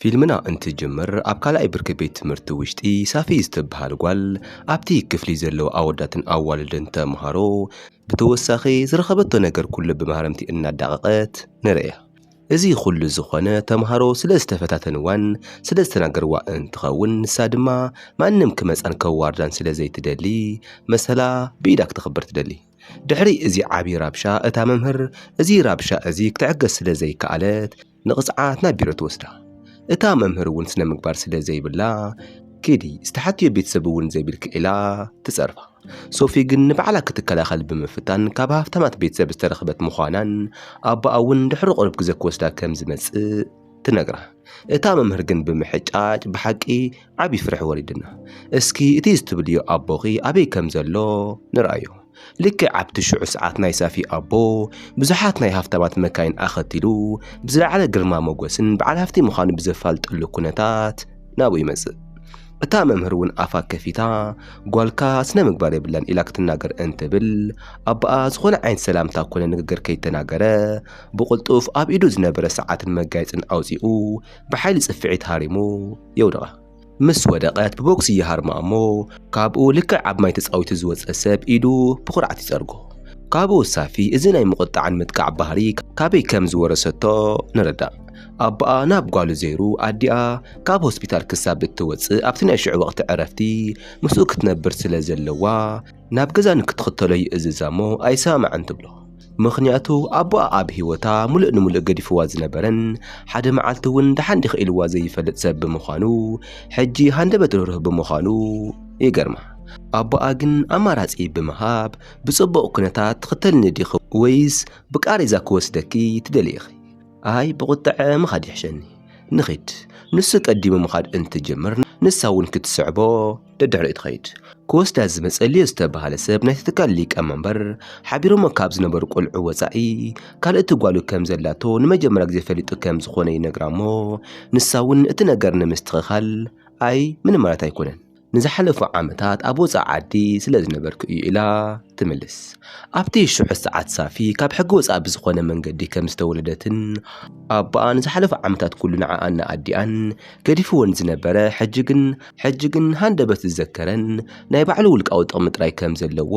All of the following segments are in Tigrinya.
ፊልምና እንትጅምር ኣብ ካልኣይ ብርኪ ቤት ትምህርቲ ውሽጢ ሳፊ ዝተብሃል ጓል ኣብቲ ክፍሊ ዘለዉ ኣወዳትን ኣዋልድን ተምሃሮ ብተወሳኺ ዝረኸበቶ ነገር ኩሉ ብመሃረምቲ እናዳቐቐት ንርእያ። እዚ ኩሉ ዝኾነ ተምሃሮ ስለ ዝተፈታተንዋን ስለ ዝተናገርዋ እንትኸውን ንሳ ድማ ማንም ክመጻን ከዋርዳን ስለ ዘይትደሊ መሰላ ብኢዳ ክተኽብር ትደሊ። ድሕሪ እዚ ዓቢ ራብሻ እታ መምህር እዚ ራብሻ እዚ ክትዕገስ ስለ ዘይከኣለት ንቕጽዓት ናብ ቢሮ ትወስዳ። እታ መምህር እውን ስነ ምግባር ስለ ዘይብላ ኪዲ ዝተሓትዮ ቤተሰብ እውን ዘይብልኪ ኢላ ትጸርፋ። ሶፊ ግን ንባዕላ ክትከላኸል ብምፍታን ካብ ሃፍታማት ቤተሰብ ዝተረኽበት ምዃናን ኣቦኣ እውን ድሕሪ ቁሩብ ግዘ ክወስዳ ከም ዝመጽእ ትነግራ። እታ መምህር ግን ብምሕጫጭ ብሓቂ ዓቢ ፍርሒ ወሪድና እስኪ እቲ ዝትብልዮ ኣቦኺ ኣበይ ከም ዘሎ ንርኣዮ። ልክዕ ኣብቲ ሽዑ ሰዓት ናይ ሳፊ ኣቦ ብዙሓት ናይ ሃፍታማት መካይን ኣኸቲሉ ብዝለዓለ ግርማ ሞገስን በዓል ሃፍቲ ምዃኑ ብዘፋልጠሉ ኩነታት ናብኡ ይመጽእ። እታ መምህር እውን ኣፋ ከፊታ ጓልካ ስነ ምግባር የብላን ኢላ ክትናገር እንትብል ኣቦኣ ዝኾነ ዓይነት ሰላምታ ኮነ ንግግር ከይተናገረ ብቕልጡፍ ኣብ ኢዱ ዝነበረ ሰዓትን መጋየጽን ኣውጺኡ ብሓይሊ ጽፍዒት ሃሪሙ የውድቓ። ምስ ወደቐት ብቦክሲ ይሃርማ እሞ ካብኡ ልክዕ ኣብ ማይ ተጻዊቱ ዝወጸ ሰብ ኢዱ ብኹርዓት ይጸርጎ። ካብኡ ሳፊ እዚ ናይ ምቑጣዕን ምጥቃዕ ባህሪ ካበይ ከም ዝወረሰቶ ንርዳእ። ኣቦኣ ናብ ጓሉ ዘይሩ ኣዲኣ ካብ ሆስፒታል ክሳብ እትወጽእ ኣብቲ ናይ ሽዑ ወቕቲ ዕረፍቲ ምስኡ ክትነብር ስለ ዘለዋ፣ ናብ ገዛ ንክትኽተሎ ይእዝዛ እሞ ኣይሰማማዕን ትብሎ። ምኽንያቱ ኣቦኣ ኣብ ህይወታ ሙሉእ ንሙሉእ ገዲፍዋ ዝነበረን ሓደ መዓልቲ እውን ደሓን ዲኺ ኢልዋ ዘይፈልጥ ሰብ ብምዃኑ ሕጂ ሃንደበት ርህሩህ ብምዃኑ ይገርማ። ኣቦኣ ግን ኣማራጺ ብምሃብ ብጽቡቕ ኩነታት ትኽተልኒ ዲኺ ወይስ ብቃሬዛ ክወስደኪ ትደልይ ኢኺ? ኣይ ብቑጠዐ ምኻድ ይሕሸኒ ንኺድ ንሱ ቀዲሙ ምኻድ እንትጅምር ንሳ እውን ክትስዕቦ ደድሕሪኡ ትኸይድ። ክወስዳ ዝመጸልዮ ዝተባህለ ሰብ ናይቲ ትካል ሊቀ መንበር፣ ሓቢሮሞ ካብ ዝነበሩ ቁልዑ ወጻኢ ካልእቲ ጓሉ ከም ዘላቶ ንመጀመርያ ግዜ ፈሊጡ ከም ዝኾነ ይነግራሞ ንሳ እውን እቲ ነገር ንምስትኽኻል ኣይ ምንም ማለት ኣይኮነን ንዝሓለፉ ዓመታት ኣብ ወጻኢ ዓዲ ስለ ዝነበርኩ እዩ ኢላ ትምልስ። ኣብቲ ሽዑ ሰዓት ሳፊ ካብ ሕጊ ወጻኢ ብዝኾነ መንገዲ ከም ዝተወለደትን ኣቦኣ ንዝሓለፉ ዓመታት ኩሉ ንዓኣን ንኣዲኣን ገዲፍወን ዝነበረ ሕጂ ግን ሕጂ ግን ሃንደበት ዝዘከረን ናይ ባዕሉ ውልቃዊ ጥቕሚ ጥራይ ከም ዘለዎ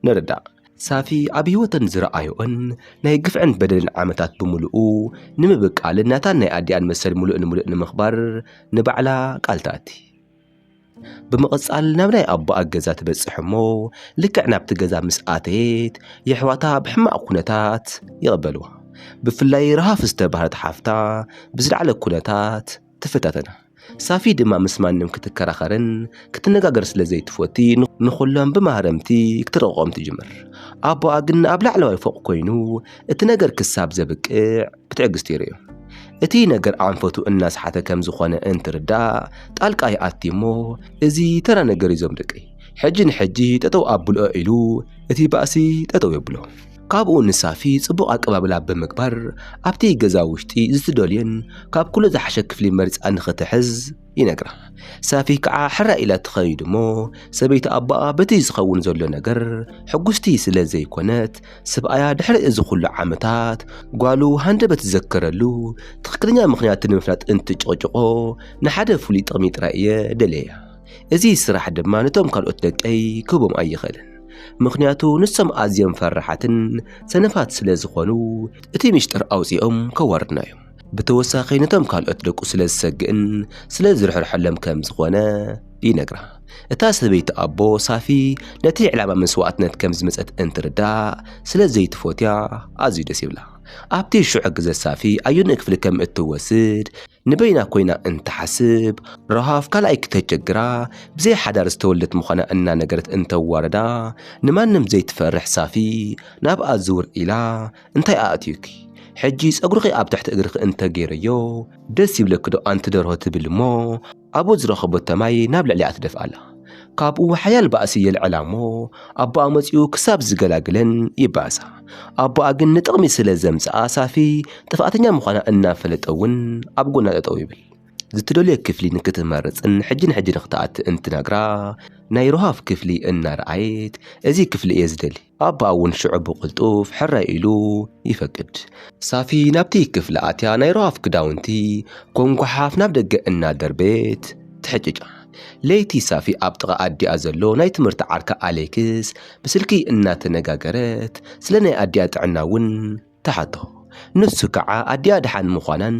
ንርዳእ። ሳፊ ኣብ ህይወተን ዝረኣዮኦን ናይ ግፍዕን በደልን ዓመታት ብምሉኡ ንምብቃልን ናታን ናይ ኣዲኣን መሰል ምሉእ ንምሉእ ንምኽባር ንባዕላ ቃል ትኣቲ። ብምቕጻል ናብ ናይ ኣቦኣ ገዛ ትበጽሕ እሞ ልክዕ ናብቲ ገዛ ምስ ኣተየት የሕዋታ ብሕማቕ ኩነታት ይቕበልዋ። ብፍላይ ረሃፍ ዝተባህለት ሓፍታ ብዝለዓለ ኩነታት ትፈታተን። ሳፊ ድማ ምስ ማንም ክትከራኸርን ክትነጋገር ስለ ዘይትፈቲ ንኹሎም ብማህረምቲ ክትረቕቖም ትጅምር። ኣቦኣ ግን ኣብ ላዕለዋይ ፎቕ ኮይኑ እቲ ነገር ክሳብ ዘብቅዕ ብትዕግስቲ ይርእዮ። እቲ ነገር ኣንፈቱ እናስሓተ ከም ዝኾነ እንትርዳእ ጣልቃ ይኣቲ እሞ እዚ ተራ ነገር እዩ ዞም ደቀይ ሕጂ ንሕጂ ጠጠው ኣብልኦ ኢሉ እቲ ባእሲ ጠጠው የብሎ። ካብኡ ንሳፊ ጽቡቕ ኣቀባብላ ብምግባር ኣብቲ ገዛ ውሽጢ ዝትደልዮን ካብ ኩሉ ዝሓሸ ክፍሊ መሪጻ ንኽትሕዝ ይነግራ። ሳፊ ከዓ ሕራይ ኢላ ትኸይድ እሞ ሰበይቲ ኣቦኣ በቲ ዝኸውን ዘሎ ነገር ሕጉስቲ ስለ ዘይኮነት ስብኣያ ድሕሪ እዚ ኩሉ ዓመታት ጓሉ ሃንደበት ዝዘከረሉ ትኽክለኛ ምኽንያት ንምፍላጥ እንትጭቕጭቖ ንሓደ ፍሉይ ጥቕሚ ጥራይ እየ ደለያ እዚ ስራሕ ድማ ነቶም ካልኦት ደቀይ ክህቦም ኣይኽእልን ምኽንያቱ ንሶም ኣዝዮም ፈራሓትን ሰነፋት ስለ ዝኾኑ እቲ ሚሽጥር ኣውጺኦም ከዋርድና እዮም። ብተወሳኺ ነቶም ካልኦት ደቁ ስለ ዝሰግእን ስለ ዝርሕርሐሎም ከም ዝኾነ ይነግራ። እታ ሰበይቲ ኣቦ ሳፊ ነቲ ዕላማ መስዋእትነት ከም ዝመጸት እንትርዳእ ስለ ዘይትፎትያ ኣዝዩ ደስ ይብላ። ኣብቲ ሽዑ ግዘ ሳፊ ኣዮኒ ክፍሊ ከም እትወስድ ንበይና ኮይና እንትሓስብ፣ ረሃፍ ካልኣይ ክተቸግራ ብዘይ ሓዳር ዝተወልደት ምዃና እናነገረት እንተዋርዳ፣ ንማንም ዘይትፈርሕ ሳፊ ናብኣ ዝውር ኢላ እንታይ ኣእትዩኪ? ሕጂ ጸጉርኺ ኣብ ትሕቲ እግርኺ እንተገይረዮ ደስ ይብለኪዶ ኣንቲ ደርሆ ትብል እሞ ኣብኡ ዝረኸበቶ ማይ ናብ ልዕሊኣ ትደፍኣላ። ካብኡ ሓያል ባእሲ የልዕላ እሞ ኣቦኣ መጺኡ ክሳብ ዝገላግለን ይባእሳ። ኣቦኣ ግን ንጥቕሚ ስለ ዘምጽኣ ሳፊ ጥፍኣተኛ ምዃና እናፈለጠ እውን ኣብ ጎና ጠጠው ይብል። ዝትደልዮ ክፍሊ ንክትመርጽን ሕጂ ንሕጂ ንክትኣቲ እንትነግራ ናይ ሮሃፍ ክፍሊ እናረኣየት እዚ ክፍሊ እየ ዝደሊ ኣባኣ እውን ሽዑ ብቕልጡፍ ሕራይ ኢሉ ይፈቅድ። ሳፊ ናብቲ ክፍሊ ኣትያ ናይ ሮሃፍ ክዳውንቲ ኮም ጓሓፍ ናብ ደገ እናደርበየት ትሕጭጫ። ለይቲ ሳፊ ኣብ ጥቓ ኣዲኣ ዘሎ ናይ ትምህርቲ ዓርካ ኣሌክስ ብስልኪ እናተነጋገረት ስለ ናይ ኣዲኣ ጥዕና እውን ትሓቶ። ንሱ ከዓ ኣዲኣ ደሓን ምዃናን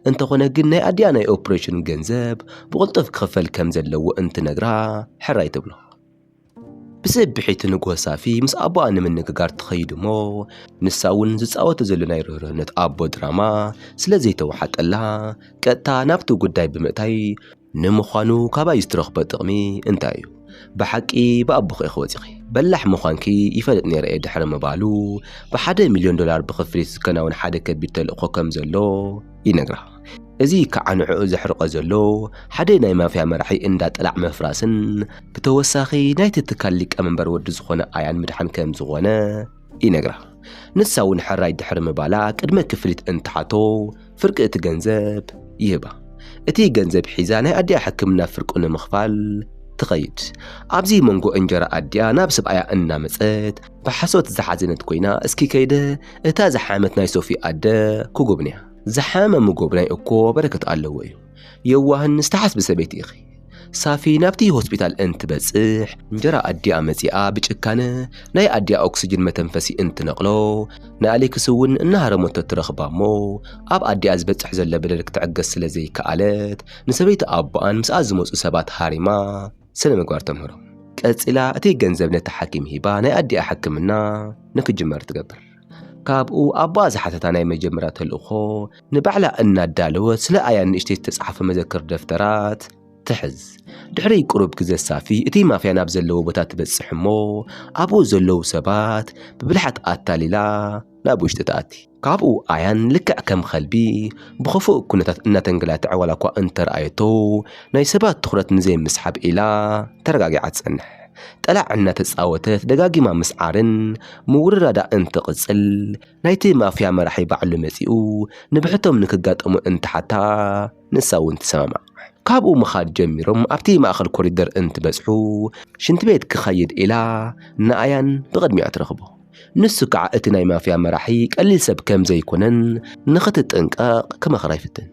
እንተኾነ ግን ናይ ኣዲኣ ናይ ኦፕሬሽን ገንዘብ ብቕልጡፍ ክኽፈል ከም ዘለዎ እንትነግራ ሕራይ ትብሎ። ብስብሒቱ ንግሆ ሳፊ ምስ ኣቦኣ ንምንግጋር ትኸይድ እሞ ንሳ እውን ዝፃወቶ ዘሎ ናይ ርህርህነት ኣቦ ድራማ ስለ ዘይተዋሓጠላ ቀጥታ ናብቲ ጉዳይ ብምእታይ ንምዃኑ ካባይ ዝትረኽቦ ጥቕሚ እንታይ እዩ? ብሓቂ ብኣቦኺ ኢኺ ወፂኺ በላሕ ምዃንኪ ይፈልጥ ነይረ እየ ድሕሪ ምባሉ ብሓደ ሚልዮን ዶላር ብኽፍሊት ዝከናወን ሓደ ከቢድ ተልእኾ ከም ዘሎ ይነግራ። እዚ ከዓ ንዕኡ ዘሕርቆ ዘሎ ሓደ ናይ ማፍያ መራሒ እንዳ ጥላዕ ምፍራስን ብተወሳኺ ናይቲ ትካል ሊቀመንበር ወዲ ዝኾነ ኣያን ምድሓን ከም ዝኾነ ይነግራ። ንሳ እውን ሕራይ ድሕሪ ምባላ ቅድመ ክፍሊት እንትሓቶ ፍርቂ እቲ ገንዘብ ይህባ። እቲ ገንዘብ ሒዛ ናይ ኣዲኣ ሕክምና ፍርቁ ንምኽፋል ትኸይድ። ኣብዚ መንጎ እንጀራ ኣዲኣ ናብ ሰብኣያ እናመጸት ብሓሶት ዝሓዘነት ኮይና እስኪ ከይደ እታ ዝሓመት ናይ ሶፊ ኣደ ክጉብንያ። ዝሓመመ ምጎብናይ እኮ በረከት ኣለዎ እዩ የዋህን ዝተሓስቢ ሰበይቲ ኢኺ ሳፊ ናብቲ ሆስፒታል እንትበጽሕ እንጀራ ኣዲኣ መጺኣ ብጭካነ ናይ ኣዲኣ ኦክስጅን መተንፈሲ እንትነቕሎ ንኣሌክስ እውን እናሃረመቶ እትረኽባ እሞ ኣብ ኣዲኣ ዝበጽሕ ዘሎ በደል ክትዕገስ ስለ ዘይከኣለት ንሰበይቲ ኣቦኣን ምስኣ ዝመጹ ሰባት ሃሪማ ስነ ምግባር ተምህሮም ቀጺላ እቲ ገንዘብ ነቲ ሓኪም ሂባ ናይ ኣዲኣ ሕክምና ንክጅመር ትገብር ካብኡ ኣቦኣ ዝሓተታ ናይ መጀመርያ ተልእኾ ንባዕላ እናዳለወት ስለ ኣያ ንእሽተይ ዝተጻሕፈ መዘክር ደፍተራት ትሕዝ ድሕሪ ቅሩብ ግዘ ሳፊ እቲ ማፍያ ናብ ዘለዎ ቦታ ትበጽሕ እሞ ኣብኡ ዘለዉ ሰባት ብብልሓት ኣታሊላ ናብ ውሽጢ ትኣቲ ካብኡ ኣያን ልክዕ ከም ኸልቢ ብኸፉእ ኩነታት እናተንገላትዐ ዋላ እኳ እንተረኣየቶ ናይ ሰባት ትኹረት ንዘይምስሓብ ኢላ ተረጋጊዓ ትጸንሕ ጠላዕ እናተጻወተት ደጋጊማ ምስዓርን ምውርራዳ እንትቕጽል፣ ናይቲ ማፍያ መራሒ ባዕሉ መጺኡ ንብሕቶም ንክጋጠሙ እንትሓታ ንሳ'ውን ትሰማማዕ። ካብኡ ምኻድ ጀሚሮም ኣብቲ ማእከል ኮሪደር እንትበጽሑ፣ ሽንትቤት ክኸይድ ኢላ ንኣያን ብቕድሚኣ ትረኽቦ። ንሱ ከዓ እቲ ናይ ማፍያ መራሒ ቀሊል ሰብ ከም ዘይኮነን ንኽትጥንቀቕ ክመኽራ ይፍትን።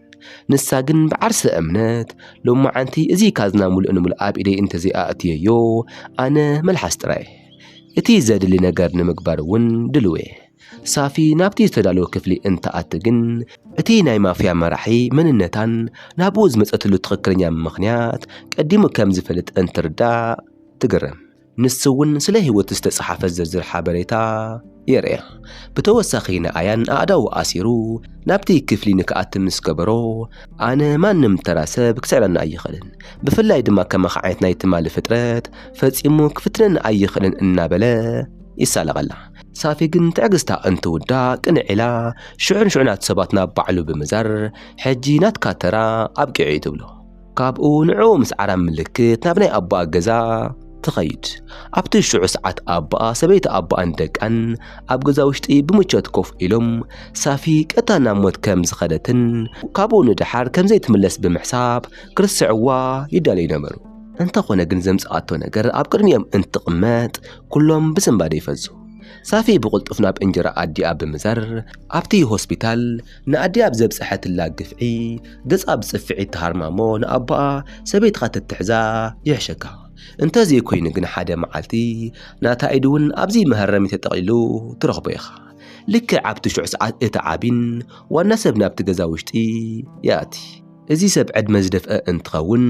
ንሳ ግን ብዓርሰ እምነት ሎማዓንቲ እዚ ካዝና ሙሉእ ንሙሉእ ኣብ ኢደይ እንተዘይኣእትየዮ ኣነ መልሓስ ጥራይ እየ። እቲ ዘድሊ ነገር ንምግባር እውን ድሉው እየ። ሳፊ ናብቲ ዝተዳለወ ክፍሊ እንትኣቲ ግን እቲ ናይ ማፍያ መራሒ መንነታን ናብኡ ዝመፀትሉ ትኽክለኛ ምኽንያት ቀዲሙ ከም ዝፈልጥ እንትርዳእ ትግረም። ንሱ እውን ስለ ህይወቱ ዝተጽሓፈ ዝርዝር ሓበሬታ የርእያ። ብተወሳኺ ንኣያን ኣእዳዉ ኣሲሩ ናብቲ ክፍሊ ንክኣቲ ምስ ገበሮ፣ ኣነ ማንም ተራ ሰብ ክስዕረኒ ኣይኽእልን፣ ብፍላይ ድማ ከማኻ ዓይነት ናይ ትማሊ ፍጥረት ፈጺሙ ክፍትነኒ ኣይኽእልን እናበለ ይሳለቐላ። ሳፊ ግን ትዕግስታ እንትውዳእ ቅንዕ ኢላ ሽዑ ንሽዑ ናቱ ሰባት ናብ ባዕሉ ብምዛር ሕጂ ናትካ ተራ ኣብቂዑ'ዩ ትብሎ። ካብኡ ንዕኡ ምስ ዓራም ምልክት ናብ ናይ ኣቦኣ ገዛ ትኸይድ። ኣብቲ ሽዑ ሰዓት ኣቦኣ፣ ሰበይቲ ኣቦኣን ደቃን ኣብ ገዛ ውሽጢ ብምቾት ኮፍ ኢሎም፣ ሳፊ ቀጥታ ናብ ሞት ከም ዝኸደትን ካብኡ ንደሓር ከም ዘይትምለስ ብምሕሳብ ክርስዕዋ ይዳለዩ ነበሩ። እንተኾነ ግን ዘምጽኣቶ ነገር ኣብ ቅድሚኦም እንትቕመጥ ኩሎም ብስንባደ ይፈዙ። ሳፊ ብቕልጡፍ ናብ እንጀራ ኣዲኣ ብምዛር ኣብቲ ሆስፒታል ንኣዲኣ ብ ዘብጸሐትላ ግፍዒ ገጻ ብጽፍዒት ትሃርማሞ ንኣቦኣ ሰበይትኻ ተትሕዛ ይሕሸካ እንተ ዘይኮይኑ ግን ሓደ መዓልቲ ናታ ኢድ እውን ኣብዚ መሀረሚ ተጠቕሊሉ ትረኽቦ ኢኻ ልክዕ ኣብቲ ሽዑ ሰዓት እቲ ዓቢን ዋና ሰብ ናብቲ ገዛ ውሽጢ ይኣቲ እዚ ሰብ ዕድመ ዝደፍአ እንትኸውን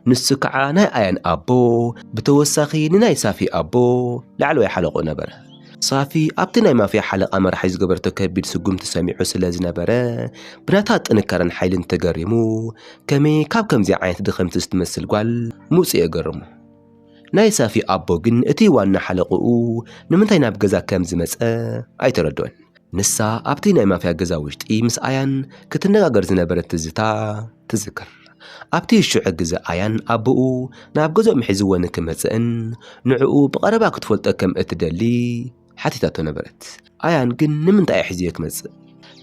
ንሱ ከዓ ናይ ኣያን ኣቦ ብተወሳኺ ንናይ ሳፊ ኣቦ ላዕለዋይ ሓለቕኡ ነበረ ሳፊ ኣብቲ ናይ ማፍያ ሓለቓ መራሒ ዝገበረቶ ከቢድ ስጉምቲ ሰሚዑ ስለ ዝነበረ ብናታ ጥንካረን ሓይልን ተገሪሙ ከመይ ካብ ከምዚ ዓይነት ድኽምቲ ዝትመስል ጓል ምውጽኤ ገረሞ። ናይ ሳፊ ኣቦ ግን እቲ ዋና ሓለቕኡ ንምንታይ ናብ ገዛ ከም ዝመጸ ኣይተረድኦን። ንሳ ኣብቲ ናይ ማፍያ ገዛ ውሽጢ ምስ ኣያን ክትነጋገር ዝነበረት ትዝታ ትዝክር። ኣብቲ ሽዑ ግዘ ኣያን ኣቦኡ ናብ ገዝኦም ሒዝዎ ንክመፅእን ንዕኡ ብቐረባ ክትፈልጦ ከም እትደሊ ሓቲታቶ ነበረት። ኣያን ግን ንምንታይ እየ ሒዝዮ ክመፅእ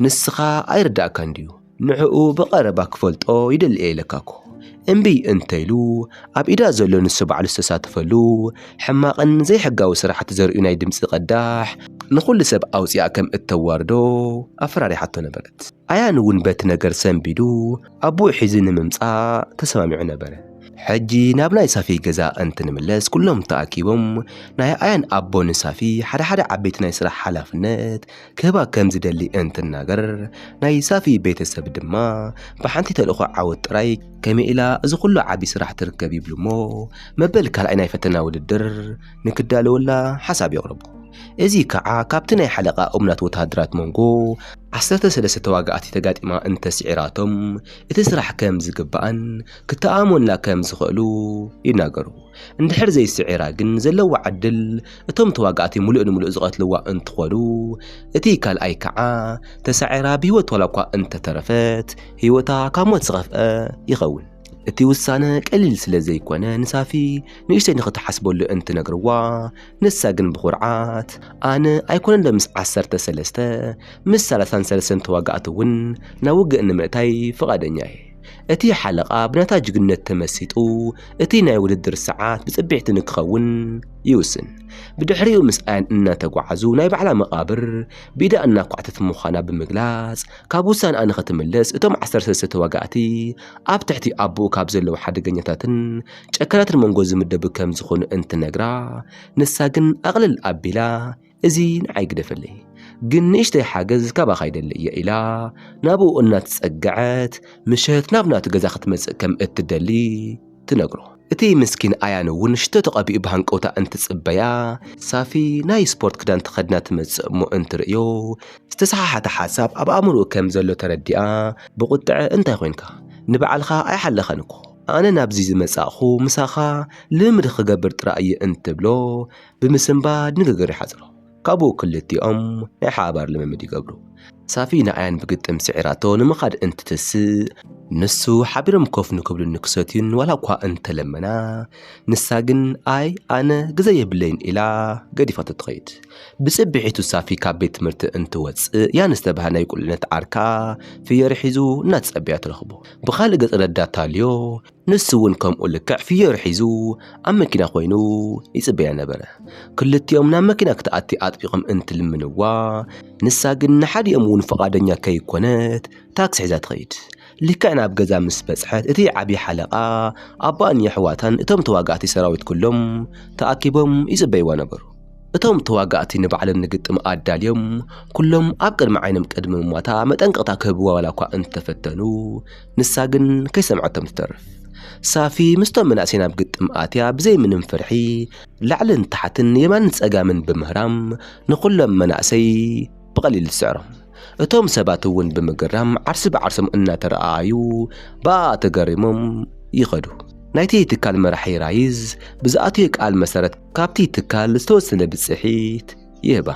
ንስኻ ኣይርደኣካን ድዩ? ንዕኡ ብቐረባ ክፈልጦ ይደሊ'የ ኢለካ'ኮ። እምቢ እንተኢሉ፣ ኣብ ኢዳ ዘሎ ንሱ ባዕሉ ዝተሳተፈሉ ሕማቕን ዘይሕጋዊ ስራሕቲ ዘርእዩ ናይ ድምጺ ቀዳሕ ንኹሉ ሰብ ኣውጺኣ ከም እተዋርዶ ኣፈራሪሓቶ ነበረት። ኣያን'ውን በቲ ነገር ሰንቢዱ ኣቡኡ ሒዙ ንምምጻእ ተሰማሚዑ ነበረ። ሕጂ ናብ ናይ ሳፊ ገዛ እንትንምለስ ኩሎም ተኣኪቦም ናይ ኣያን ኣቦ ንሳፊ ሓደ ሓደ ዓበይቲ ናይ ስራሕ ሓላፍነት ክህባ ከም ዝደሊ እንትናገር፣ ናይ ሳፊ ቤተሰብ ድማ ብሓንቲ ተልእኾ ዓወት ጥራይ ከመይ ኢላ እዚ ኩሉ ዓቢ ስራሕ ትርከብ ይብሉ እሞ መበል ካልኣይ ናይ ፈተና ውድድር ንክዳለወላ ሓሳብ የቕርቡ። እዚ ከኣ ካብቲ ናይ ሓለቓ እሙናት ወተሃደራት መንጎ ዓሰርተ ሰለስተ ተዋጋእቲ ተጋጢማ እንተ ስዒራቶም እቲ ስራሕ ከም ዝግባኣን ክተኣኣመኑላ ከም ዝኽእሉ ይናገሩ። እንድሕር ዘይስዒራ ግን ዘለዋ ዕድል እቶም ተዋጋእቲ ምሉእ ንምሉእ ዝቐትልዋ እንትኾኑ፣ እቲ ካልኣይ ከዓ ተሳዒራ ብህይወት ዋላ እኳ እንተተረፈት ህይወታ ካብ ሞት ዝኸፍኣ ይኸውን። እቲ ውሳነ ቀሊል ስለ ዘይኮነ ንሳፊ ንእሽተይ ንኽትሓስበሉ እንትነግርዋ ንሳ ግን ብኹርዓት ኣነ ኣይኮነን ዶ ምስ ዓሰርተ ሰለስተ ምስ ሰላሳን ሰለስተን ተዋጋእቲ እውን ናብ ውግእ ንምእታይ ፍቓደኛ እየ እቲ ሓለቓ ብናታ ጅግነት ተመሲጡ እቲ ናይ ውድድር ሰዓት ብጽብሕቲ ንክኸውን ይውስን። ብድሕሪኡ ምስኣን እናተጓዓዙ ናይ ባዕላ መቓብር ብኢዳ እናኳዕተት ምዃና ብምግላጽ ካብ ውሳነኣ ንኽትምለስ እቶም ዓሰርተ ሰለስተ ተዋጋእቲ ኣብ ትሕቲ ኣቦኡ ካብ ዘለዉ ሓደገኛታትን ጨካናትን መንጎ ዝምደቡ ከም ዝኾኑ እንትነግራ ንሳ ግን ኣቕልል ኣቢላ እዚ ንዓይ ግደፈለይ ግን ንእሽተይ ሓገዝ ካባኻ ይደሊ እየ ኢላ ናብኡ እናተጸግዐት ምሸት ናብ ናቱ ገዛ ክትመጽእ ከም እትደሊ ትነግሮ እቲ ምስኪን ኣያን እውን ሽቶ ተቐቢኡ ብሃንቀውታ እንትጽበያ ሳፊ ናይ ስፖርት ክዳን ተኸድና ትመጽእ እሞ እንትርእዮ ዝተሰሓሓተ ሓሳብ ኣብ ኣእምሮኡ ከም ዘሎ ተረዲኣ ብቑጥዐ እንታይ ኮንካ ንበዓልኻ ኣይሓለኻን እኮ ኣነ ናብዚ ዝመጻእኹ ምሳኻ ልምድ ክገብር ጥራይ እየ እንትብሎ ብምስንባድ ንግግር ይሓጽሩ። ካብኡ ክልቲኦም ናይ ሓባር ልምምድ ይገብሩ። ሳፊ ንኣያን ብግጥም ስዒራቶ ንምኻድ እንትትስእ ንሱ ሓቢሮም ኮፍ ንክብሉን ንክሰትዩን ዋላ እኳ እንተለመና ንሳ ግን ኣይ ኣነ ግዘ የብለይን ኢላ ገዲፋቶ ትኸይድ። ብጽብሒቱ ሳፊ ካብ ቤት ትምህርቲ እንትወጽእ ያን ዝተባህለ ናይ ቁልዕነት ዓርካ ፍየሪ ሒዙ እናተጸበያ ትረኽቦ። ብኻልእ ገጽ ረዳት ታልዮ ንሱ እውን ከምኡ ልክዕ ፍዮሪ ሒዙ ኣብ መኪና ኮይኑ ይጽበያ ነበረ። ክልቲኦም ናብ መኪና ክትኣቲ ኣጥቢቖም እንትልምንዋ፣ ንሳ ግን ንሓዲኦም እውን ፍቓደኛ ከይኮነት ታክሲ ሒዛ ትኸይድ። ልክዕ ናብ ገዛ ምስ በጽሐት እቲ ዓቢ ሓለቓ፣ ኣባኣን የሕዋታን እቶም ተዋጋእቲ ሰራዊት ኩሎም ተኣኪቦም ይጽበይዋ ነበሩ። እቶም ተዋጋእቲ ንባዕሎም ንግጥም ኣዳልዮም ኩሎም ኣብ ቅድሚ ዓይኖም ቅድሚ ምሟታ መጠንቀቕታ ክህብዋ ዋላኳ እንተፈተኑ፣ ንሳ ግን ከይሰምዐቶም ትተርፍ። ሳፊ ምስቶም መናእሰይ ናብ ግጥም ኣትያ ብዘይ ምንም ፍርሒ ላዕልን ታሕትን የማንን ጸጋምን ብምህራም ንኹሎም መናእሰይ ብቐሊል ትስዕሮም። እቶም ሰባት እውን ብምግራም ዓርሲ ብዓርሶም እናተረኣኣዩ ብኣኣ ተገሪሞም ይኸዱ። ናይቲ ትካል መራሒ ራይዝ ብዝኣተዮ ቃል መሰረት ካብቲ ትካል ዝተወሰነ ብጽሒት ይህባ።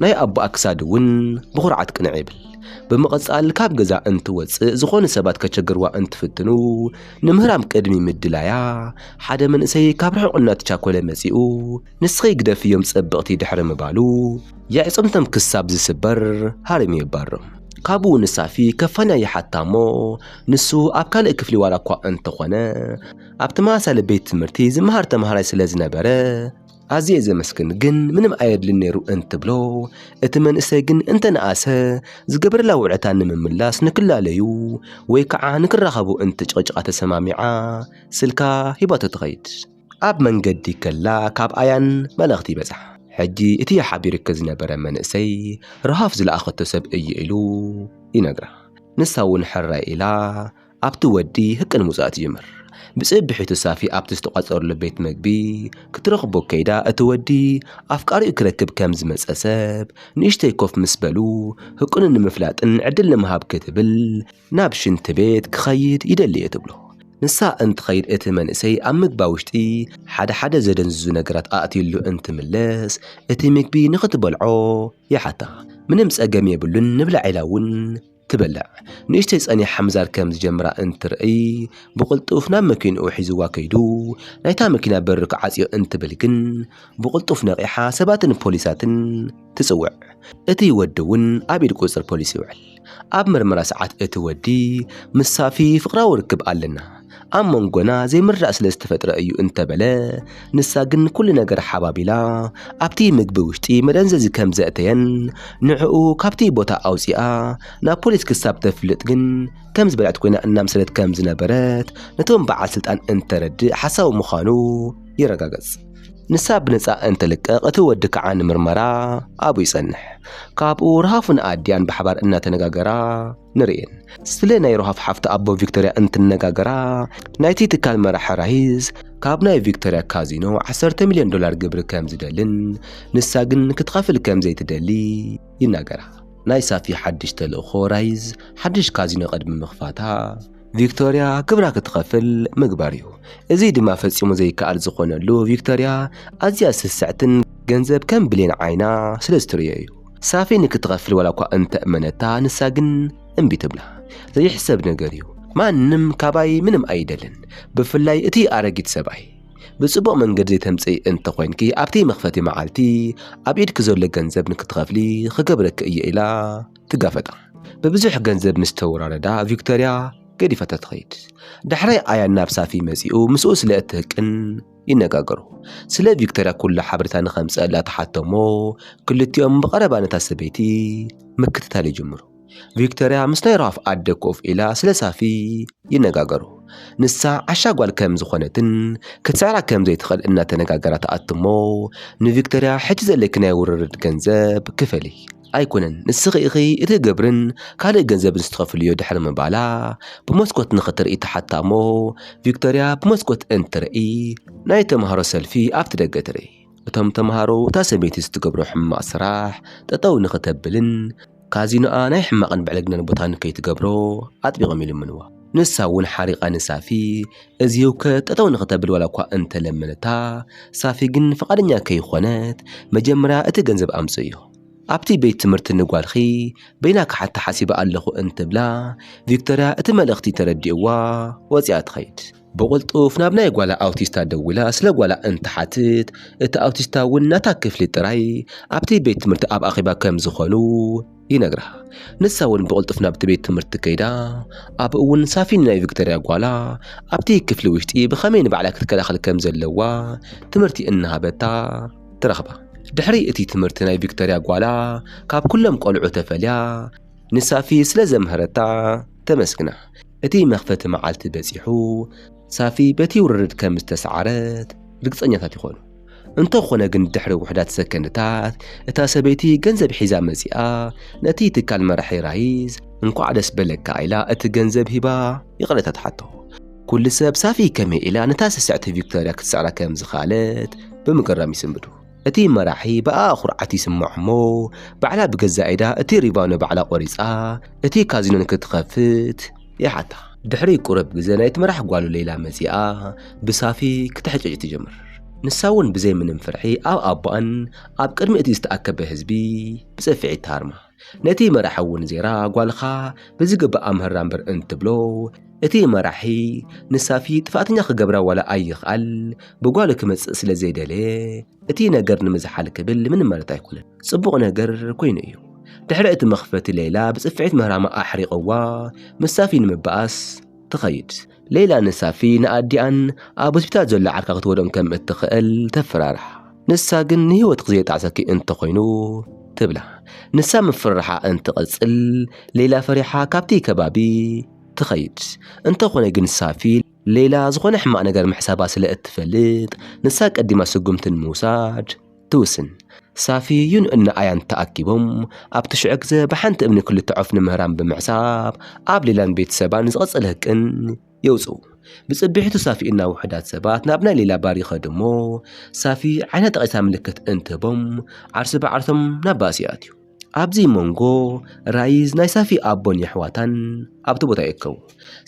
ናይ ኣቦኣ ክሳድ እውን ብኹርዓት ቅንዕ ይብል። ብምቕጻል ካብ ገዛ እንትወጽእ ዝኾኑ ሰባት ከቸግርዋ እንትፍትኑ ንምህራም ቅድሚ ምድላያ ሓደ መንእሰይ ካብ ርሑቕ እናተቻኮለ መጺኡ ንስኺ ግደፍዮም ጸብቕቲ ድሕሪ ምባሉ የዕጽምቶም ክሳብ ዝስበር ሃሪሙ የባርም። ካብኡ ንሳፊ ከፋንያ ይሓታ እሞ ንሱ ኣብ ካልእ ክፍሊ ዋላ እኳ እንተኾነ ኣብ ተመሳሳሊ ቤት ትምህርቲ ዝመሃር ተመሃራይ ስለ ዝነበረ ኣዝየ ዘመስግን ግን ምንም ኣየድልን ነይሩ እንትብሎ እቲ መንእሰይ ግን እንተነኣሰ ዝገበረላ ውዕታ ንምምላስ ንክላለዩ ወይ ከዓ ንክራኸቡ እንትጭቕጭቓ ተሰማሚዓ ስልካ ሂባቶ ትኸይድ ኣብ መንገዲ ከላ ካብ ኣያን መልእኽቲ ይበጽሓ ሕጂ እቲ ሓቢሩኪ ዝነበረ መንእሰይ ረሃፍ ዝለኣኸቶ ሰብ እዩ ኢሉ ይነግራ ንሳ እውን ሕራይ ኢላ ኣብቲ ወዲ ህቅን ምውጻእ ትጅምር። ብጽብሒቱ ሳፊ ኣብቲ ዝተቋጸረሉ ቤት መግቢ ክትረኽቦ ከይዳ እቲ ወዲ ኣፍቃሪኡ ክረክብ ከም ዝመጸ ሰብ ንእሽተይ ኮፍ ምስ በሉ ህቅኑ ንምፍላጥን ዕድል ንምሃብ ክትብል ናብ ሽንቲ ቤት ክኸይድ ይደሊ'የ ትብሎ። ንሳ እንትኸይድ እቲ መንእሰይ ኣብ ምግባ ውሽጢ ሓደ ሓደ ዘደንዝዙ ነገራት ኣእትዩሉ እንትምለስ እቲ ምግቢ ንኽትበልዖ ይሓታ። ምንም ጸገም የብሉን ንብላዕ ኢላ እውን ትበልዕ ንእሽተይ ጸኒሓ ምዛር ከም ዝጀምራ እንትርእይ ብቕልጡፍ ናብ መኪንኡ ሒዝዋ ከይዱ ናይታ መኪና በሪ ክዓጽዮ እንትብል ግን ብቕልጡፍ ነቒሓ ሰባትን ፖሊሳትን ትጽውዕ። እቲ ወዲ እውን ኣብ ኢድ ቁጽር ፖሊስ ይውዕል። ኣብ መርመራ ሰዓት እቲ ወዲ ምስ ሳፊ ፍቕራዊ ርክብ ኣለና፣ ኣብ መንጎና ዘይምርዳእ ስለ ዝተፈጥረ እዩ እንተበለ ንሳ ግን ኩሉ ነገር ሓባቢላ ኣብቲ ምግቢ ውሽጢ መደንዘዚ ከም ዘእተየን ንዕኡ ካብቲ ቦታ ኣውፂኣ ናብ ፖሊስ ክሳብ ተፍልጥ ግን ከም ዝበልዐት ኮይና እናምሰለት ከም ዝነበረት ነቶም በዓል ስልጣን እንተረድእ ሓሳዊ ምዃኑ ይረጋገጽ። ንሳ ብነፃ እንተልቀቕ እቲ ወዲ ከዓ ንምርመራ ኣብኡ ይጸንሕ። ካብኡ ረሃፉን ኣዲያን ብሓባር እናተነጋገራ ንርእየን። ስለ ናይ ሮሃፍ ሓፍቲ ኣቦ ቪክቶርያ እንትነጋገራ ናይቲ ትካል መራሒ ራሂዝ ካብ ናይ ቪክቶርያ ካዚኖ 10 ሚልዮን ዶላር ግብሪ ከም ዝደልን ንሳ ግን ክትኸፍል ከም ዘይትደሊ ይናገራ። ናይ ሳፊ ሓድሽ ተልእኾ ራይዝ ሓድሽ ካዚኖ ቅድሚ ምኽፋታ ቪክቶርያ ግብራ ክትኸፍል ምግባር እዩ። እዚ ድማ ፈጺሙ ዘይከኣል ዝኾነሉ ቪክቶርያ ኣዝያ ስስዕትን ገንዘብ ከም ብሌን ዓይና ስለ ዝትርእዮ እዩ። ሳፊ ንክትኸፍል ዋላ እኳ እንተእመነታ ንሳ ግን እምቢ ትብላ። ዘይሕሰብ ነገር እዩ። ማንም ካባይ ምንም ኣይደልን፣ ብፍላይ እቲ ኣረጊት ሰብኣይ። ብጽቡቕ መንገዲ ዘይተምጽኢ እንተ ኾይንኪ ኣብቲ መኽፈቲ መዓልቲ ኣብ ኢድኪ ዘሎ ገንዘብ ንክትኸፍሊ ክገብረኪ እየ ኢላ ትጋፈጣ። ብብዙሕ ገንዘብ ምስ ተወራረዳ ቪክቶርያ ገዲፋታ ትኸይድ። ዳሕራይ ኣያን ናብ ሳፊ መጺኡ ምስኡ ስለ እትህቅን፣ ይነጋገሩ። ስለ ቪክቶርያ ኩሉ ሓበሬታ ንኸምጽኣላ ተሓቶሞ፣ ክልቲኦም ብቐረባ ነታ ሰበይቲ ምክትታል ይጅምሩ። ቪክቶርያ ምስ ናይ ራፍ ኣደ ኮፍ ኢላ ስለ ሳፊ ይነጋገሩ። ንሳ ዓሻ ጓል ከም ዝኾነትን ክትስዕራ ከም ዘይትኽእል እናተነጋገራ ትኣትሞ፣ ንቪክቶርያ ሕጂ ዘለኪ ናይ ውርርድ ገንዘብ ክፈሊ ኣይኮነን ንስኺ ኢኺ እቲ ግብርን ካልእ ገንዘብን ስትኸፍልዮ ድሕሪ ምባላ ብመስኮት ንኽትርኢ ተሓታ እሞ ቪክቶርያ ብመስኮት እንትርኢ ናይ ተምሃሮ ሰልፊ ኣብቲ ደገ ትርኢ እቶም ተምሃሮ እታ ሰበይቲ ስትገብሮ ሕማቕ ስራሕ ጠጠው ንኽተብልን ካዚኖኣ ናይ ሕማቕን ብዕልግናን ቦታ ንከይትገብሮ ኣጥቢቖም ይልምንዋ ንሳ እውን ሓሪቓ ንሳፊ እዚ ህውከት ጠጠው ንኽተብል ዋላ እኳ እንተለመነታ ሳፊ ግን ፍቓደኛ ከይኾነት መጀመርያ እቲ ገንዘብ ኣምፅእዮ ኣብቲ ቤት ትምህርቲ ንጓልኺ በይና ክሓታ ሓሲበ ኣለኹ እንትብላ ቪክቶርያ እቲ መልእኽቲ ተረዲእዋ ወፂኣ ትኸይድ። ብቕልጡፍ ናብ ናይ ጓላ ኣውቲስታ ደዊላ ስለ ጓላ እንትሓትት እቲ ኣውቲስታ እውን ናታ ክፍሊ ጥራይ ኣብቲ ቤት ትምህርቲ ኣብ ኣኼባ ከም ዝኾኑ ይነግራ። ንሳ እውን ብቕልጡፍ ናብቲ ቤት ትምህርቲ ከይዳ ኣብኡ እውን ሳፊን ናይ ቪክቶርያ ጓላ ኣብቲ ክፍሊ ውሽጢ ብኸመይ ንባዕላ ክትከላኸል ከም ዘለዋ ትምህርቲ እናሃበታ ተረኽባ። ድሕሪ እቲ ትምህርቲ ናይ ቪክቶርያ ጓላ ካብ ኩሎም ቆልዑ ተፈልያ ንሳፊ ስለ ዘምሀረታ ተመስግና። እቲ መኽፈቲ መዓልቲ በጺሑ ሳፊ በቲ ውርርድ ከም ዝተሰዓረት ርግጸኛታት ይኾኑ። እንተኾነ ግን ድሕሪ ውሕዳት ሰከንድታት እታ ሰበይቲ ገንዘብ ሒዛ መጺኣ ነቲ ትካል መራሒ ራይዝ እንኳዕ ደስ በለካ ኢላ እቲ ገንዘብ ሂባ ይቕሬታ ትሓቶ። ኩሉ ሰብ ሳፊ ከመይ ኢላ ነታ ስስዕቲ ቪክቶርያ ክትስዕራ ከም ዝኸኣለት ብምግራም ይስንብዱ። እቲ መራሒ ብኣኣ ኩርዓት ይስመዖ እሞ ባዕላ ብገዛእ ኢዳ እቲ ሪቫኖ ባዕላ ቆሪጻ እቲ ካዚኖ ንክትኸፍት ይሓታ። ድሕሪ ቁሩብ ግዘ ናይቲ መራሒ ጓሉ ሌይላ መጺኣ ብሳፊ ክትሕጨጭ ትጅምር። ንሳ እውን ብዘይ ምንም ፍርሒ ኣብ ኣቦኣን ኣብ ቅድሚ እቲ ዝተኣከበ ህዝቢ ብጽፍዒት ትሃርማ። ነቲ መራሒ እውን ዜራ ጓልኻ ብዝግባእ ኣምህራ እምበር እንትብሎ እቲ መራሒ ንሳፊ ጥፋእተኛ ክገብራ ዋላ ኣይኽኣል ብጓሉ ክመጽእ ስለ ዘይደለየ እቲ ነገር ንምዝሓል ክብል ምንም ማለት ኣይኮነን ጽቡቕ ነገር ኮይኑ እዩ ድሕሪ እቲ መኽፈቲ ሌላ ብጽፍዒት ምህራማ ኣሕሪቐዋ ምስ ሳፊ ንምበኣስ ትኸይድ ሌላ ንሳፊ ንኣዲኣን ኣብ ሆስፒታል ዘሎ ዓርካ ክትወዶም ከም እትኽእል ተፈራርሓ። ንሳ ግን ንህይወትኪ ዘየጣዕሰኪ እንተኾይኑ ትብላ። ንሳ ምፍርራሓ እንትቕጽል ሌላ ፈሪሓ ካብቲ ከባቢ ትኸይድ። እንተኾነ ግን ሳፊ ሌላ ዝኾነ ሕማቕ ነገር ምሕሳባ ስለ እትፈልጥ ንሳ ቀዲማ ስጉምቲ ንምውሳድ ትውስን። ሳፊዩን እነ ኣያን ተኣኪቦም ኣብቲ ሽዑ ግዘ ብሓንቲ እምኒ ክልተ ዖፍ ንምህራም ብምሕሳብ ኣብ ሌላን ቤት ሰባ ንዝቐጸለ ህቅን የውጽኡ። ብጽብሒቱ ሳፊዩና ውሑዳት ሰባት ናብ ናይ ሌላ ባር ይኸዱ እሞ ሳፊዩ ዓይና ጠቒሳ ምልክት እንትህቦም ዓርሱ ብዓርሶም ናብ ባእሲ ይኣትዩ። ኣብዚ መንጎ ራይዝ ናይ ሳፊ ኣቦን የሕዋታን ኣብቲ ቦታ ይእከቡ።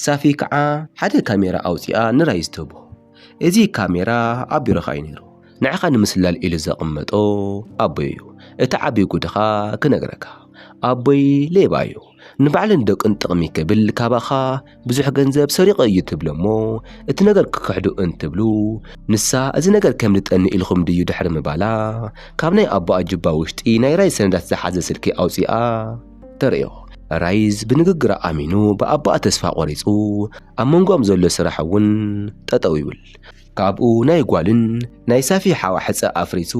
ሳፊ ከዓ ሓደ ካሜራ ኣውፂኣ ንራይዝ ትህቦ። እዚ ካሜራ ኣብ ቢሮኻ እዩ ነይሩ። ንዓኻ ንምስላል ኢሉ ዘቐመጦ ኣቦይ እዩ። እቲ ዓብዪ ጉድኻ ክነግረካ። ኣቦይ ሌባ እዩ። ንባዕሉን ደቁን ጥቕሚ ክብል ካባኻ ብዙሕ ገንዘብ ሰሪቐ እዩ ትብሎ እሞ እቲ ነገር ክክሕዱ እንትብሉ ንሳ እዚ ነገር ከም ልጠኒ ኢልኹም ድዩ ድሕሪ ምባላ ካብ ናይ ኣቦኣ ጅባ ውሽጢ ናይ ራይዝ ሰነዳት ዝሓዘ ስልኪ ኣውፂኣ ተርእዮ ራይዝ ብንግግራ ኣሚኑ ብኣቦኣ ተስፋ ቆሪፁ ኣብ መንጎኦም ዘሎ ስራሕ እውን ጠጠው ይብል ካብኡ ናይ ጓልን ናይ ሳፊ ሓዋ ሕፀ ኣፍሪሱ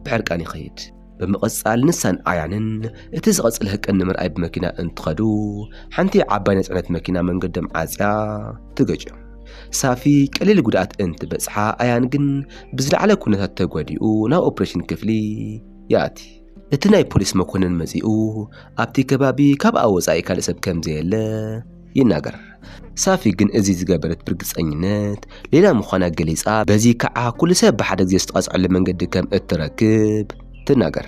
ብሕርቃን ይኸይድ ብምቕጻል ንሳን ኣያንን እቲ ዝቐጽል ህቅን ንምርኣይ ብመኪና እንትኸዱ ሓንቲ ዓባይ ናይ ጽዕነት መኪና መንገዶም ዓጽያ ትገጭዮም ሳፊ ቀሊል ጉድኣት እንትበጽሓ ኣያን ግን ብዝለዓለ ኩነታት ተጎዲኡ ናብ ኦፕሬሽን ክፍሊ ይኣቲ እቲ ናይ ፖሊስ መኮንን መጺኡ ኣብቲ ከባቢ ካብኣ ወጻኢ ካልእ ሰብ ከም ዘየለ ይናገር። ሳፊ ግን እዚ ዝገበረት ብርግጸኝነት ሌላ ምዃና ገሊጻ፣ በዚ ከኣ ኩሉ ሰብ ብሓደ ግዜ ዝተቐጽዐሉ መንገዲ ከም እትረክብ ትናገር።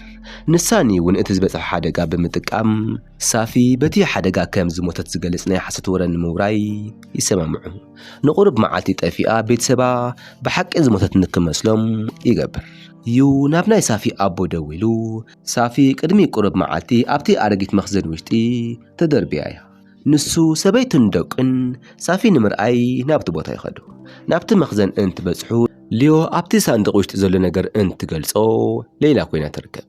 ንሳኒ እውን እቲ ዝበጽሐ ሓደጋ ብምጥቃም ሳፊ በቲ ሓደጋ ከም ዝሞተት ዝገልጽ ናይ ሓሶት ወረ ንምውራይ ይሰማምዑ። ንቑሩብ መዓልቲ ጠፊኣ ቤተሰባ ብሓቂ ዝሞተት ንክመስሎም ይገብር። ዩ ናብ ናይ ሳፊ ኣቦ ደዊሉ ሳፊ ቅድሚ ቁሩብ መዓልቲ ኣብቲ ኣረጊት መኽዘን ውሽጢ ተደርብያ እያ ንሱ፣ ሰበይቱን ደቁን ሳፊ ንምርኣይ ናብቲ ቦታ ይኸዱ። ናብቲ መኽዘን እንትበጽሑ፣ ሊዮ ኣብቲ ሳንዱቕ ውሽጢ ዘሎ ነገር እንትገልጾ፣ ሌይላ ኮይና ትርከብ።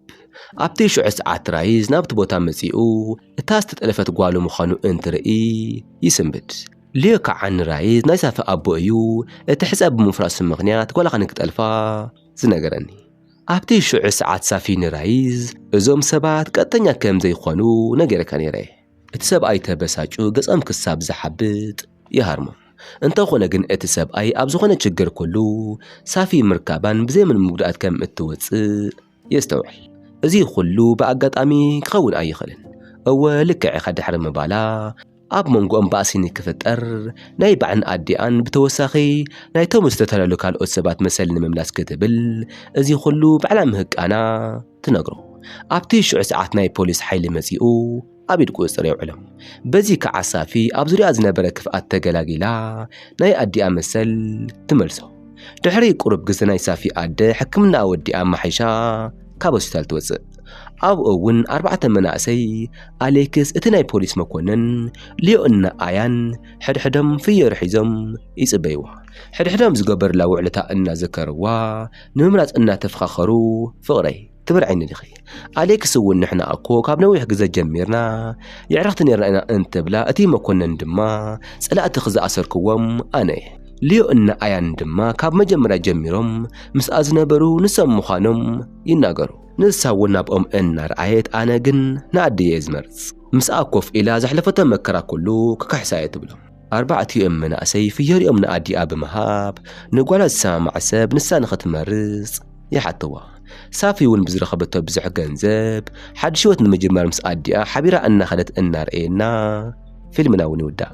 ኣብቲ ሽዑ ሰዓት ራይዝ ናብቲ ቦታ መጺኡ እታ ዝተጠለፈት ጓሉ ምዃኑ እንትርኢ ይስንብድ። ሊዮ ከዓ ንራይዝ ናይ ሳፊ ኣቦ እዩ እቲ ሕጸ ብምፍራሱ ምኽንያት ጓልኻ ንክጠልፋ ዝነገረኒ። ኣብቲ ሽዑ ሰዓት ሳፊ ንራይዝ እዞም ሰባት ቀጥተኛ ከም ዘይኮኑ ነጊረካ ነይረ። እቲ ሰብኣይ ተበሳጩ ገጸም ክሳብ ዝሓብጥ ይሃርሞ። እንተኾነ ግን እቲ ሰብኣይ ኣብ ዝኾነ ችግር ኩሉ ሳፊ ምርካባን ብዘይምንም ምጉድኣት ከም እትወጽእ የስተውዕል። እዚ ኩሉ ብኣጋጣሚ ክኸውን ኣይኽእልን። እወ ልክዕ ኢኻ ድሕሪ ምባላ ኣብ መንጎኦም ባእሲ ንክፍጠር ናይ ባዕን ኣዲኣን ብተወሳኺ ናይቶም ዝተተለሉ ካልኦት ሰባት መሰል ንምምላስ ክትብል እዚ ኩሉ ባዕላ ምህቃና ትነግሮ። ኣብቲ ሽዑ ሰዓት ናይ ፖሊስ ሓይሊ መጺኡ ኣብ ኢድ ቁጽጽር የውዕሎም። በዚ ከኣ ሳፊ ኣብ ዙርያ ዝነበረ ክፍኣት ተገላጊላ ናይ ኣዲኣ መሰል ትመልሶ። ድሕሪ ቁሩብ ግዜ ናይ ሳፊ ኣደ ሕክምናኣ ወዲኣ ኣማሓይሻ ካብ ሆስፒታል ትወጽእ። ኣብኡ እውን ኣርባዕተ መናእሰይ ኣሌክስ እቲ ናይ ፖሊስ መኮነን ሊዮእና ኣያን ሕድሕዶም ፍዮሪ ሒዞም ይጽበይዋ ሕድሕዶም ዝገበሩላ ውዕልታ እናዘከርዋ ንምምራጽ እናተፈኻኸሩ ፍቕረይ ትብርዐኒ ዲኺ ኣሌክስ እውን ንሕና እኮ ካብ ነዊሕ ግዘ ጀሚርና የዕረኽቲ ነርና ኢና እንትብላ እቲ መኮነን ድማ ጸላእቲ ክዝኣሰርክዎም ኣነ እየ ልዮ እና ኣያን ድማ ካብ መጀመርያ ጀሚሮም ምስኣ ዝነበሩ ንሶም ምዃኖም ይናገሩ ንሳ እውን ናብኦም እናረኣየት ኣነ ግን ንኣደየ እየ ዝመርጽ ምስኣ ኮፍ ኢላ ዘሕለፈቶ መከራ ኩሉ ክክሕሳ እየ ትብሎም ኣርባዕቲኦም መናእሰይ ፍዮሪኦም ንኣዲኣ ብምሃብ ንጓላ ዝሰማማዕ ሰብ ንሳ ንኽትመርጽ ይሓተዋ። ሳፊ እውን ብዝረኸበቶ ብዙሕ ገንዘብ ሓድሽ ህይወት ንምጅማር ምስ ኣዲኣ ሓቢራ እናኸደት እናርኣየና ፊልምና እውን ይውዳእ።